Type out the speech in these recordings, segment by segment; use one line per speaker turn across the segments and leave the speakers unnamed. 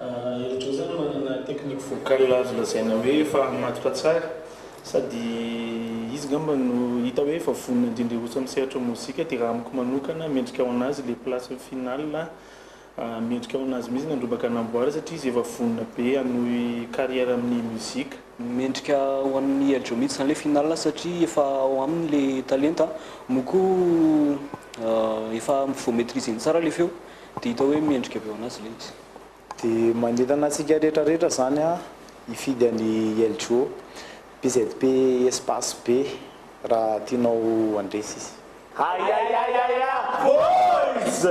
Eritrereto zany manana technique vocal azo lazaina hoe efa matotra tsara sady izy angamba no hita hoe efa vonona indrindra hiroso amin'ny sehatry ny mozika dia raha amiko manokana mendrika ho an'azy ilay place ny final a, mendrika ho an'azy mihitsy ny handrombaka hanamboara satria izy efa vonona be hanohy carrière amin'ny mozika. Mendrika
ho an'i El Djo mihitsy zany ilay final satria efa ao aminy ilay talenta moa koa efa voa-maitriser-ny tsara ilay feo. Dia hita hoe mendrika avy eo anazy ilay izy. Dia manentana
antsika rehetra rehetra izany hifidy an'i LJO, PZP espace be raha tianao handresy izy. Ayayayaya
boys!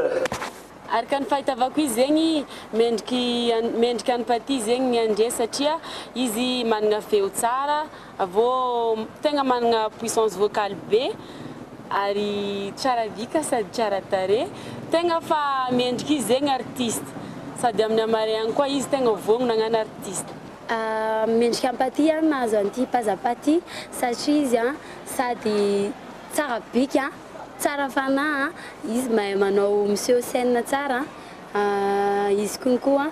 Ary ka ny fahitavako izy zegny mendriky mendrika an'i Paty zegny ny handresy satria izy managna feo tsara, Avo tegna managna puissance vocale be ary tsara vika sady tsara tarehy, tegna fa mendrika izy zegny artiste sady amin'ny hamareagny koa izy tegna vogno nagnano artiste. Mendrika
ampaty ary nahazo an'ity paza paty satria izy sady tsara bika, tsara fanahy, izy mahay manao miseho scène tsara, izy kony koa